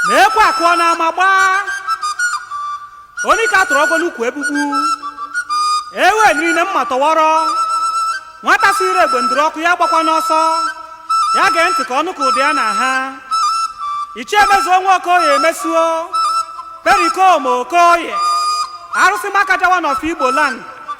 na ekwe akụọ n'ama gbaa onye ka tụrụ ọgọ n'ukwu egbugbu ewe niile mma tọwọrọ nwata sịrị egbe ndụrụ ọkụ ya gbakwanụ ọsọ ya gee ntị ka ọ nụ ka ụdị ya na ha ichie mezuo nwa okoye mezuo perikoma okoye arụsị makaja one of igbo land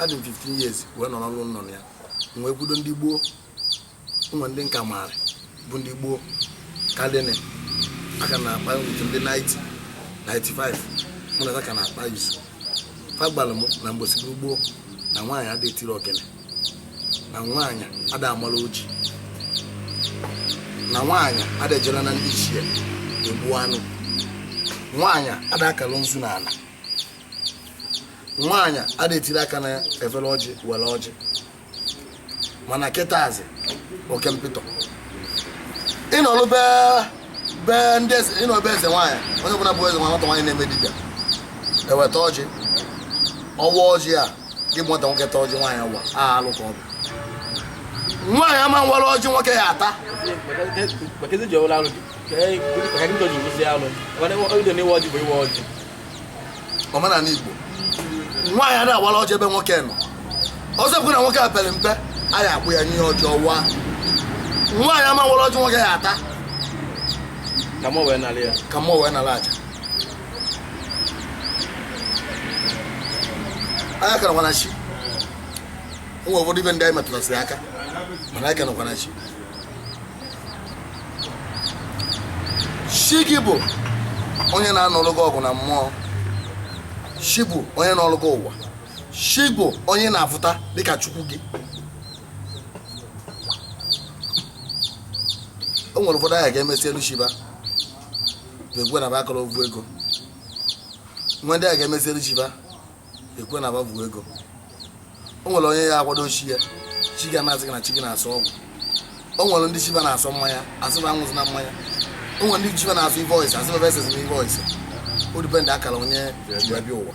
adị m 15 years wee nọrọ n'ụlọ nọ na ya m wee kwudo ndị gboo o nwe ndị nka maara bụ ndị gboo kadịnị aka na-akpa utu ndị 90 95 mụ na ha ka na-akpa izu fa gwara m na mgbosi bụ gboo na nwaanyị ada etiri ogene na nwaanyị ada amala oji na nwaanyị ada ejela na ndị ichie egbu anụ nwaanyị ada akara nzu n'ala nwaanyị ada etiri aka na efere ọjị were ọjị mana kịta azị oke mpịtọ ịnọrụ be be ndị eze ị nọ be eze nwaanyị onye ọbụla bụ eze nwaanyị nwata nwaanyị na-eme dibịa e weta ọjị ọ waa ọjị a gị bụ nwata nwoke ta ọjị nwaanyị wara alụ ka ọ bụ nwaanyị ama ewere ọjị nwoke ya ata Maka ezi ji ọwụla alụ dị. Ka anyị- ka anyị ndị ọjị wụsị alụ. Ọ na- ọ dị na iwe ọjị bụ iwe ọjị. omenala igbo nwaanyị ada awara ọjị ebe nwoke nọ ọzọ bụ na nwoke a pere mpe a ya akpọ ya nye ọjị ọ waa nwaanyị ama awara ọjị nwoke ya ata ka mụ wee nara ya ka mụ wee nara aja anya kara nwana chi o nwe ụfọdụ ive ndị anyị metụtasịrị aka mana anyị ka nọkwa na chi chi gị bụ onye na-anụrụ gị ọgụ na mmụọ chi bụ onye nọrụ gị ụwa chi bụ onye na-afụta dịka chukwu gị o nwere ụfọdụ a ga-emesilụ chi va bụ egwe na bakọrọ ogwu ego o nwe ndị a ga-emesilụ chi va ekwe na ababu ego o nwere onye ya akwado chi ya chi ga na-asị gị na chi gị na-asọ ọgwụ o nwere ndị chi va na-asọ mmanya a sị va aṅụzina mmanya o nwere ndị chi va na-asọ ive ọyịsa a sị va esizina ive ọyịsa ọ depend akara onye ji bịa ụwa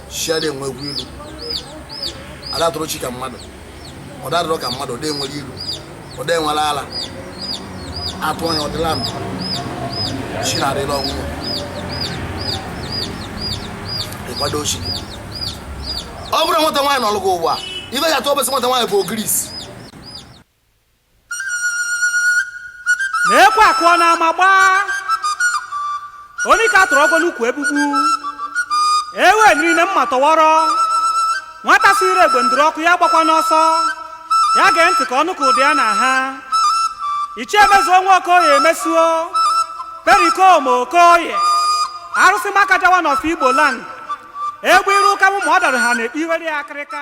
chi ada enwekwa ilu ada atụrụ chi ka mmadụ ọ da adịrị ka mmadụ ọ da enwere ilu ọ da enwere ala atụ onye ọ dị na ndụ chi na-adịla ọnwụnwa ịkwado chi gị ọ bụrụ na nwata nwaanyị nọlụ gị ụwa ive ya atụ ọbụsị nwata nwaanyị bụ ogirisi na ekwe akụọ n'ama agbaa onye ka a tụrụ ọgwụ n'ukwu egbugbu ewe niile mma tọwọrọ nwata siri egbe ndụrụ ọkụ ya gbakwanụ ọsọ ya gee ntị ka ọ nụ ka ụda ya na-aha ichie mezuo nwa okoye mezuo perikoma okoye arụsị makaja one of igbo land egbe ịrụ ụka mụ ma ọ dara ha na-ekpe iwere ya akịrịka